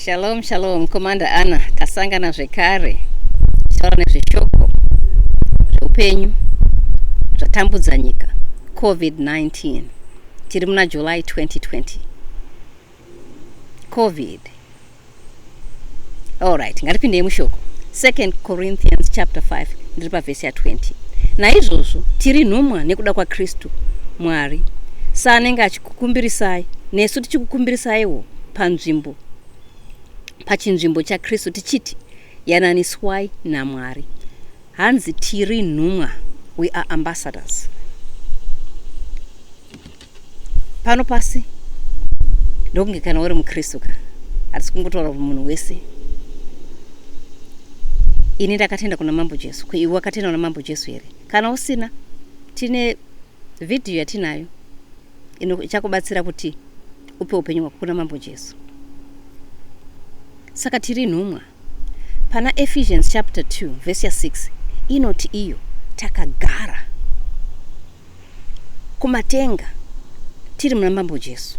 Shalom, shalom, Commander Anna, tasangana zvekare taura nezveshoko zveupenyu zvatambudza nyika covid-19 tiri muna july 2020 covid allright ngatipindei mushoko 2 corinthians chapter 5 ndiri pavhesi ya20 naizvozvo tiri nhumwa nekuda kwakristu mwari saanenge kukumbirisai nesu tichikukumbirisaiwo panzvimbo pachinzvimbo chakristu tichiti yananiswai namwari hanzi tiri nhumwa we are ambassadors pano pasi ndokunge kana uri mukristu ka hatisi kungotaura kuti munhu wese ini ndakatenda kuna mambo jesu iwe wakatenda kuna mambo jesu here kana usina tine Vhidhiyo yatinayo ino ichakubatsira kuti upe upenyu hwako kuna Mambo Jesu. Saka tiri nhumwa. Pana Ephesians chapter 2 verse 6 inoti iyo takagara kumatenga tiri muna Mambo Jesu.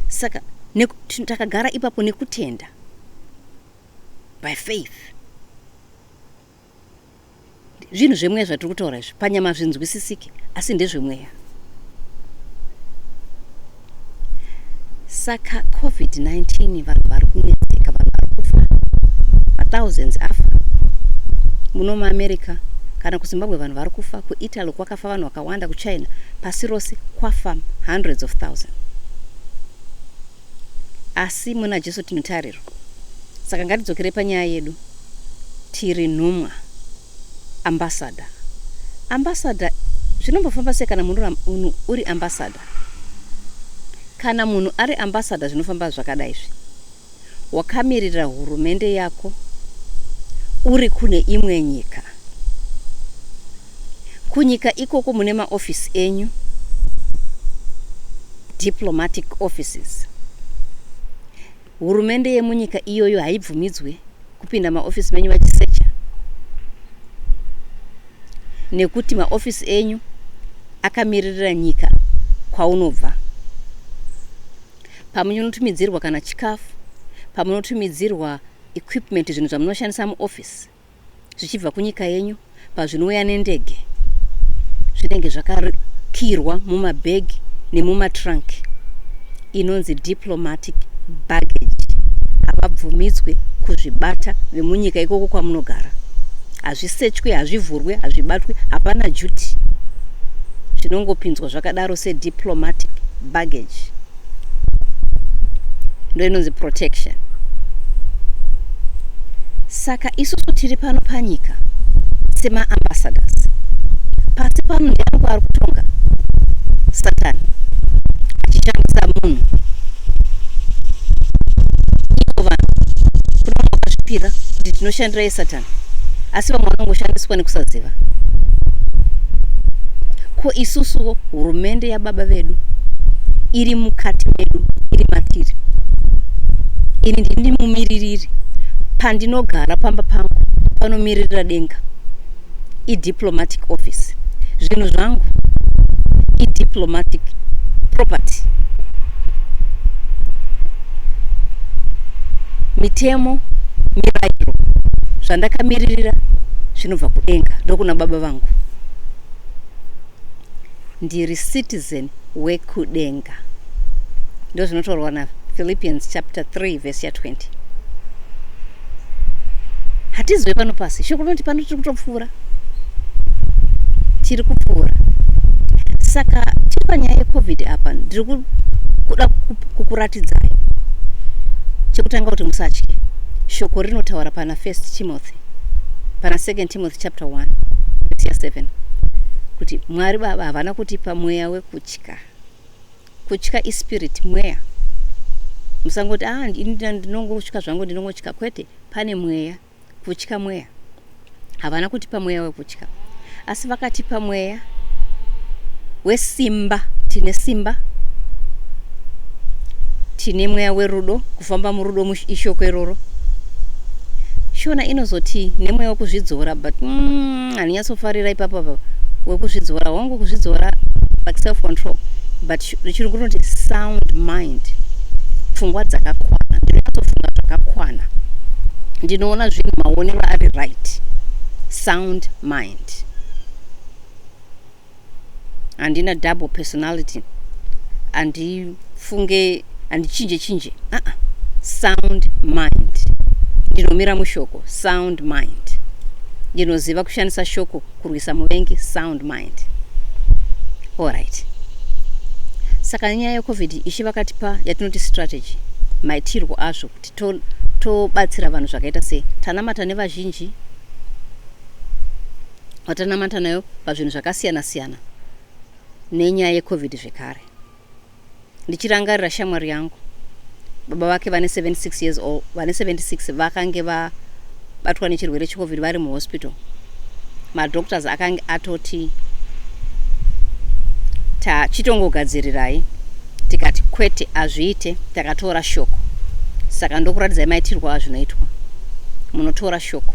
Saka takagara ipapo nekutenda by faith. zvinhu zvemweya zvatiri kutaura izvi panyama zvinzwisisike asi ndezvemweya saka covid-19 vanhu vari kunetseka vanhu vari kufa mathousands afa muno muamerica kana kuzimbabwe vanhu vari kufa kuitaly kwakafa vanhu vakawanda kuchina pasi rose kwafa hundreds of thousand Asi muna Jesu tine tariro. Saka ngatidzokerei panyaya yedu. Tiri nhumwa. Ambassador. Ambassador zvinombofamba sei kana munhu uri ambassador? Kana munhu ari ambassador zvinofamba zvakadai izvi. Wakamirira hurumende yako uri kune imwe nyika. Kunyika ikoko mune maofisi enyu, diplomatic offices. Hurumende yemunyika iyoyo haibvumidzwe kupinda maofisi menyu vachisecha nekuti maofisi enyu akamiririra nyika kwaunobva pamunotumidzirwa kana chikafu pamunotumidzirwa equipment zvinhu zvamunoshandisa muofisi zvichibva kunyika yenyu pazvinouya nendege zvinenge zvakakirwa mumabhegi nemumatrunk inonzi diplomatic baggage havabvumidzwe kuzvibata vemunyika ikoko kwamunogara hazvisechwe hazvivhurwe hazvibatwe hapana duty zvinongopinzwa zvakadaro sediplomatic baggage ndoinonzi protection saka isusu tiri pano panyika semaambassadors pasi pano ndianiko ari kutonga satani achishandisa munhu ivo vanhu kunoona vakazvipira kuti tinoshandira yesatani asi vamwe vanongoshandiswa nekusaziva ko isusu hurumende yababa vedu iri mukati medu iri matiri ini ndini mumiririri pandinogara pamba pangu panomiririra denga diplomatic office zvinhu zvangu idiplomatic property mitemo mirairo zvandakamiririra zvinobva kudenga ndokuna baba vangu ndiri citizen wekudenga ndozvinotorwa na philippians chapter 3 vhesi ya 20 hatizive pano pasi shoko rinoti pano tiri kutopfuura tiri kupfuura saka tiri panyaya yecovid apa ndiri kuda kukuratidzai chekutanga kuti musatye shoko rinotaura pana first timothy pana second timothy chapter 1 vhesi ya 7 kuti mwari baba havana kutipa mweya wekutya kutya ispirit mweya musangoti ah ndinongotya zvangu ndinongotya kwete pane mweya kutya mweya havana kutipa mweya wekutya asi vakatipa mweya wesimba tine simba tine mweya werudo kufamba murudo muishoko iroro shona inozoti nemweya wekuzvidzora but mm, andinyatsofarira ipapo apa wekuzvidzora hongu kuzvidzora like self control but richirungu rinoti sound mind pfungwa dzakakwana ndinonyatsofunga zvakakwana ndinoona zvinhu maonero ari right sound mind handina double personality handifunge handichinje chinje aa uh -uh. sound mind ndinomira mushoko sound mind ndinoziva kushandisa shoko kurwisa muvengi sound mind allright saka nyaya yecovid ishi vakatipa yatinoti strategy maitirwo azvo kuti tobatsira to vanhu zvakaita sei tanamata nevazhinji watanamata nayo pazvinhu zvakasiyana siyana nenyaya yecovid zvekare ndichirangarira shamwari yangu baba vake vane 76 years old vane 76 vakange vabatwa nechirwere checovid vari muhospital madoctors akange atoti tachitongogadzirirai tikati kwete azviite takatora shoko saka ndokuratidzai maitirwa azvinoitwa munotora shoko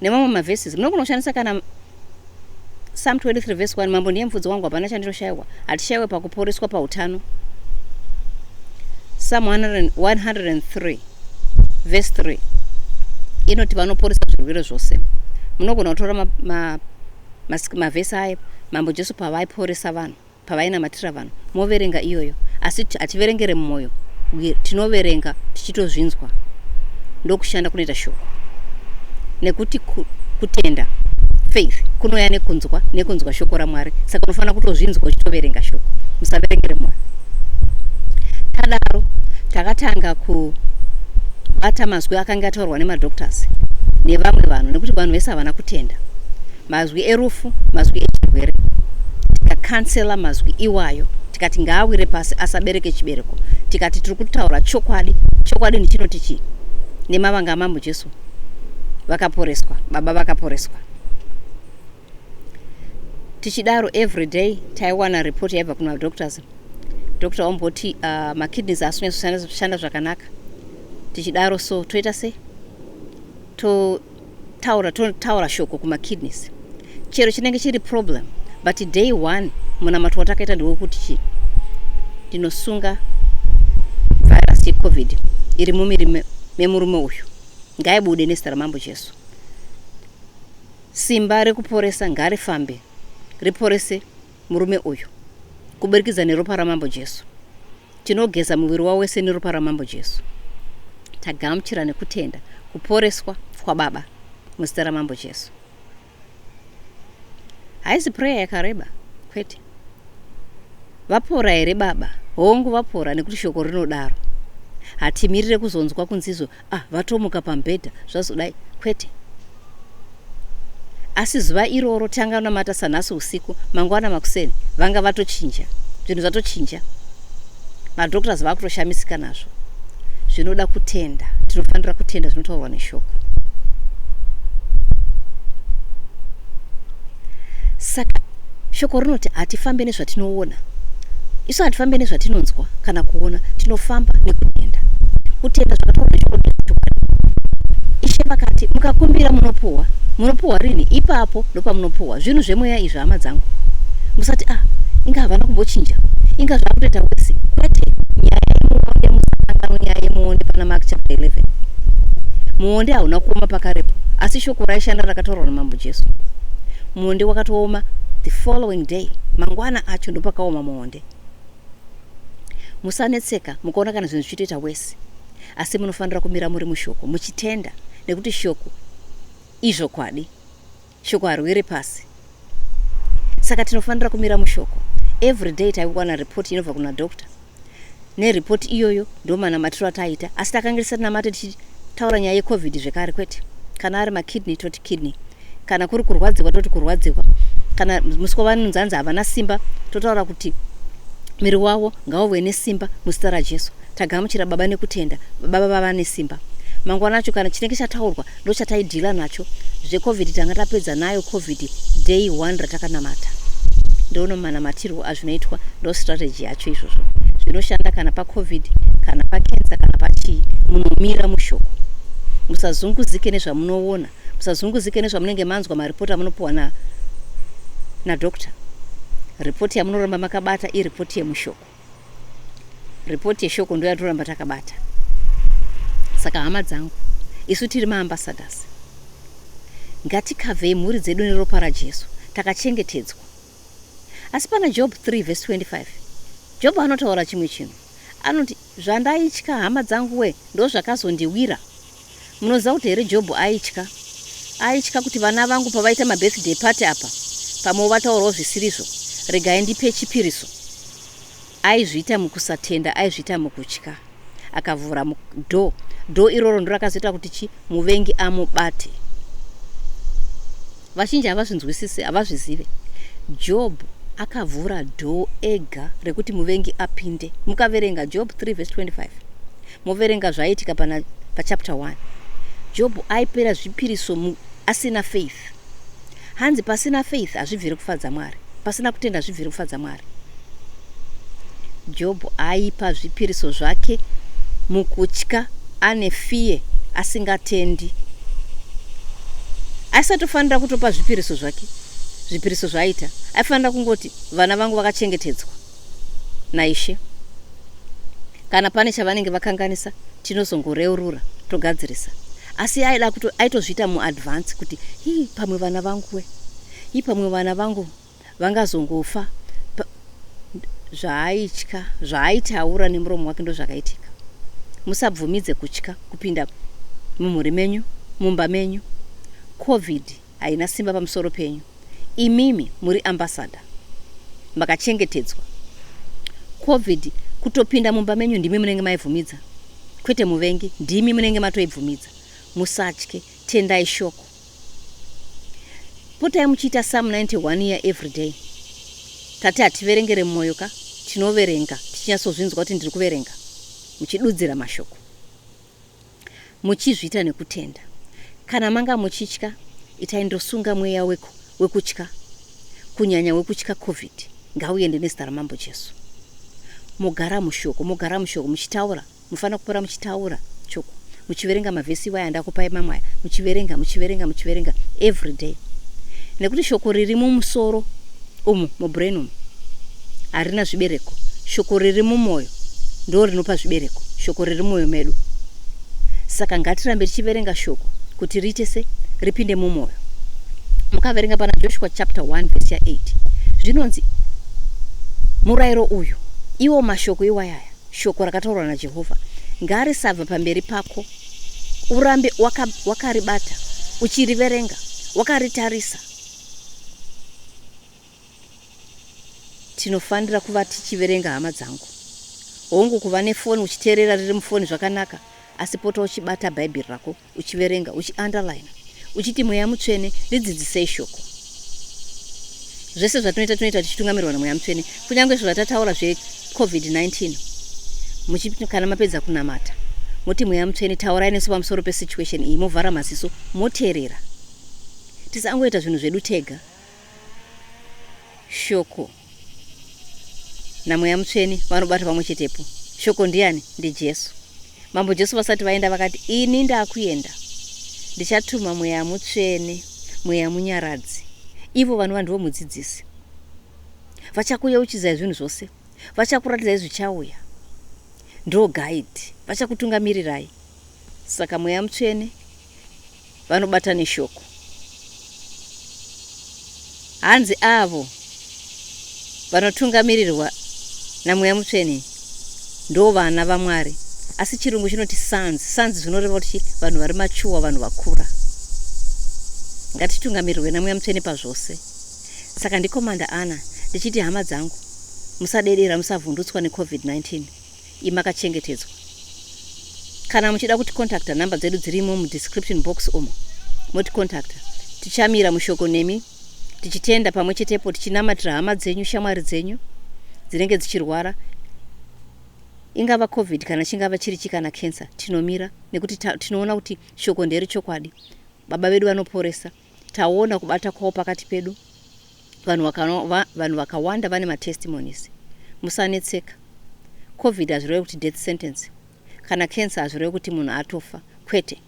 nemamwe maverses munogona kushandisa kana psalm 23 verse 1 mambo ndiye mfudzi wangu hapana chandinoshaiwa hatishaiwe pakuporeswa pautano psalm 103 verse 3 inoti vanoporesa zvirwere zvose munogona kutora mavhesi ma, ma, ma aya mambo jesu pavaiporesa vanhu pavainamatira vanhu moverenga iyoyo asi hativerengere mumoyo tinoverenga tichitozvinzwa ndokushanda kunoita shoko nekuti kutenda faith kunouya nekunzwa nekunzwa shoko ramwari saka unofanira kutozvinzwa uchitoverenga shoko musaverengere moyo tadaro takatanga kubata mazwi akange ataurwa nemadoctors nevamwe vanhu nekuti vanhu vese havana kutenda mazwi erufu mazwi echirwere tikakansela mazwi iwayo tikati ngaawire pasi asabereke chibereko tikati tiri kutaura chokwadi chokwadi ndichinoti chii nemavanga amambo jesu vakaporeswa baba vakaporeswa tichidaro every day taiwana report yaibva kuna doctors doctor omboti uh, makidneys asi kunyatsoshanda zvakanaka tichidaro so toita sei to taura totaura shoko kumakidneys chero chinenge chiri problem but day one munamato watakaita ndewekuti chii ndinosunga virus yecovid iri mumiri memurume uyu ngaibude nezita ramambo jesu simba rekuporesa ngarifambe riporese murume uyu kuburikidza neropa ramambo Jesu. Tinogeza muviri wavo wese neropa ramambo Jesu. Tagamuchira nekutenda kuporeswa kwaBaba muzita ramambo Jesu. Haisi prayer yakareba, kwete. Vapora here baba? Hongu vapora nekuti shoko rinodaro. Hatimirire kuzonzwa kunzizo ah vatomuka pamubhedha zvazodai kwete asi zuva iroro tanga namata sanhasi usiku mangwana makuseni vanga vatochinja zvinhu zvatochinja madoctors vakutoshamisika nazvo zvinoda kutenda tinofanira kutenda zvinotaurwa neshoko saka Shoko rinoti hatifambe nezvatinoona. Isu hatifambe nezvatinonzwa kana kuona, tinofamba nekutenda. Kutenda zvakataurwa neshoko ndezvechokwadi. Ishe vakati, mukakumbira munopuhwa. Munopuhwa rini? Ipapo ndopamunopuhwa. Zvinhu zvemweya izvi, hama dzangu. Musati, ah, inga havana kumbochinja. Inga zvakutoita wese. Kwete, nyaya yemuonde musakanganwe nyaya yemuonde pana Mark chapter 11. Muonde hauna kuoma pakarepo, asi shoko raishanda rakataurwa naMambo Jesu. Muonde wakatooma the following day mangwana acho ndopakaoma muonde. Musanetseka mukaona kana zvinhu zvichitoita wese asi munofanira kumira muri mushoko muchitenda nekuti shoko izvokwadi shoko harwiri pasi saka tinofanira kumira mushoko every day taiwana report inobva kuna doctor nereport iyoyo ndomanamatiro ataiita asi takange tisati namate tichitaura nyaya yecovid zvekare kwete kana ari makidney toti kidney kana kuri kurwadziwa toti kurwadziwa kana musi kwavanonzi hanzi havana simba totaura kuti miri wavo ngauve nesimba muzita rajesu tagamuchira baba nekutenda baba vava nesimba mangwana acho kana chinenge chataurwa ndochataidhila nacho zvecovid tanga tapedza nayo covid day one ratakanamata ndoono manamatirwo azvinoitwa ndo strategy yacho izvozvo zvinoshanda kana pacovid kana pakensa kana pachii munomira mushoko musazunguzike nezvamunoona musazunguzike nezvamunenge manzwa maripoti amunopiwa na nadoctor ripoti yamunoramba makabata iripoti yemushoko report yeshoko ndo yatoramba takabata saka hama dzangu isu tiri maambasadhasi ngatikavhei mhuri dzedu neropa rajesu takachengetedzwa asi pana job 3 vhesi 25 job anotaura chimwe chinhu anoti zvandaitya hama dzangu we ndozvakazondiwira Munoziva kuti here Jobho aitya. Aitya kuti vana vangu pavaita mabirthday party apa pamwewo vataurawo zvisirizvo, regai ndipe chipiriso. Aizviita mukusatenda, aizviita mukutya. Akavhura door. Door iroro ndiro rakazoita kuti chi muvengi amubate. Vazhinji havazvinzwisise, havazvizive. Jobho akavhura door ega rekuti muvengi apinde. Mukaverenga Job 3 verse 25. moverenga zvaiitika pana pachapter 1 jobho aipera zvipiriso mu, asina faith hanzi pasina faith hazvibviri kufadza mwari pasina kutenda zvibviri kufadza mwari jobho aipa zvipiriso zvake mukutya ane fiye asingatendi aisatofanira kutopa zvipiriso zvake zvipiriso zvaaita aifanira kungoti vana vangu vakachengetedzwa naIshe. Kana pane chavanenge vakanganisa tinozongoreurura togadzirisa. Asi aida kuto aitozviita muadvance kuti hii pamwe vana vangu we. Hii pamwe vana vangu vangazongofa zvaaitya zvaaitaura nemuromo wake ndozvakaitika musabvumidze kutya kupinda mumhuri menyu mumba menyu covid haina simba pamusoro penyu imimi muri ambassador makachengetedzwa covid kutopinda mumba menyu ndimi munenge maivhumidza kwete muvengi ndimi munenge matoibvumidza musatye tendai shoko potai muchiita sam 91 year every day tati hativerengere mumwoyo ka tinoverenga tichinyatsozvinzwa kuti ndiri kuverenga muchidudzira mashoko muchizviita nekutenda. Kana manga muchitya itai ndosunga mweya weku wekutya kunyanya wekutya covid ngauende nezita ramambo Jesu. Mogara mushoko mogara mushoko muchitaura mufana kupora muchitaura choko muchiverenga mavhesi iwaya andakupai mamwe aya muchiverenga muchiverenga muchiverenga everyday nekuti shoko riri mumusoro Umu mubrain umu harina zvibereko. Shoko riri mumoyo ndoo rinopa zvibereko. Shoko riri mumoyo medu. Saka ngatirambe tichiverenga shoko kuti riite se ripinde mumoyo. Mukaverenga pana Joshua chapter 1 verse ya 8 zvinonzi murairo uyu iwo mashoko iwayaya shoko rakataurwa naJehovha ngarisabva pamberi pako urambe wakaribata waka uchiriverenga wakaritarisa Tinofanira kuva tichiverenga hama dzangu. Hongu, kuva nefoni uchiteerera riri mufoni zvakanaka, asi pota uchibata Bhaibheri rako, uchiverenga, uchiandarayina, uchiti, Mweya Mutsvene, ndidzidzisei Shoko. Zvese zvatinoita tinoita tichitungamirwa naMweya Mutsvene, kunyange izvo zvatataura zveCovid-19. Muchi, kana mapedza kunamata, moti, Mweya Mutsvene, taurai nesu pamusoro pesituation iyi, movhara maziso, moteerera. tisangoita zvinhu zvedu tega shoko namweya mutsvene vanobata pamwe chetepo shoko ndiani ndijesu mambo jesu vasati vaenda vakati ini ndakuenda ndichatuma mweya mutsvene mweya munyaradzi ivo vanova ndivo mudzidzisi vachakuyeuchidzai zvinhu zvose vachakuratidzai zvichauya ndo guide vachakutungamirirai saka mweya mutsvene vanobata neshoko hanzi avo vanotungamirirwa namweya mutsvene ndo vana vamwari asi chirungu chinoti sons sons zvinoreva kuti vanhu vari machuwa vanhu vakura ngatitungamirirwe namweya mutsvene pazvose saka ndikomanda ana ndichiti hama dzangu musadedera musavhundutswa necovid 19 iyi makachengetedzwa. Kana muchida kuti contacta number dzedu dzirimo mu description box umo moti contacta. Tichamira mushoko nemi tichitenda pamwe chetepo tichinamatira hama dzenyu shamwari dzenyu dzinenge dzichirwara ingava covid kana chingava chiri chi kana cancer tinomira nekuti tinoona kuti shoko nderi chokwadi baba vedu vanoporesa Taona kubata kwawo pakati pedu. Vanhu vakano, va, vanhu vakawanda vane matestimonies. Musanetseka. Covid hazvirewe kuti death sentence. Kana cancer hazvirewe kuti munhu atofa. Kwete.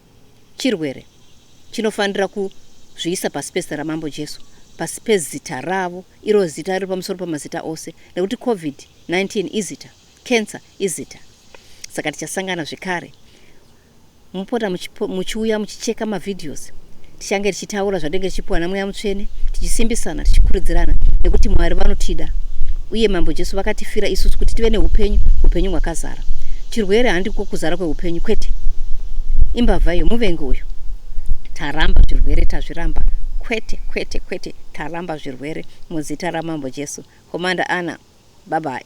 Chirwere. Chinofanira kuzviisa pasi pezita ramambo Jesu. Pasi pezita ravo. Iro zita riri pamusoro pamazita ose. Nekuti Covid 19 izita. Cancer izita saka tichasangana zvekare mupota muchiuya muchicheka mavideos tichange tichitaura zvatinenge tichipiwa namweya mutsvene tichisimbisana tichikurudzirana nekuti mwari vanotida uye mambo jesu vakatifira isusu kuti tive neupenyu upenyu hwakazara chirwere handiko kuzara kweupenyu kwete imbavha iyo muvengi uyu taramba zvirwere tazviramba kwete kwete kwete taramba zvirwere Murwere muzita ramambo Jesu. Commander Anna. Bye bye.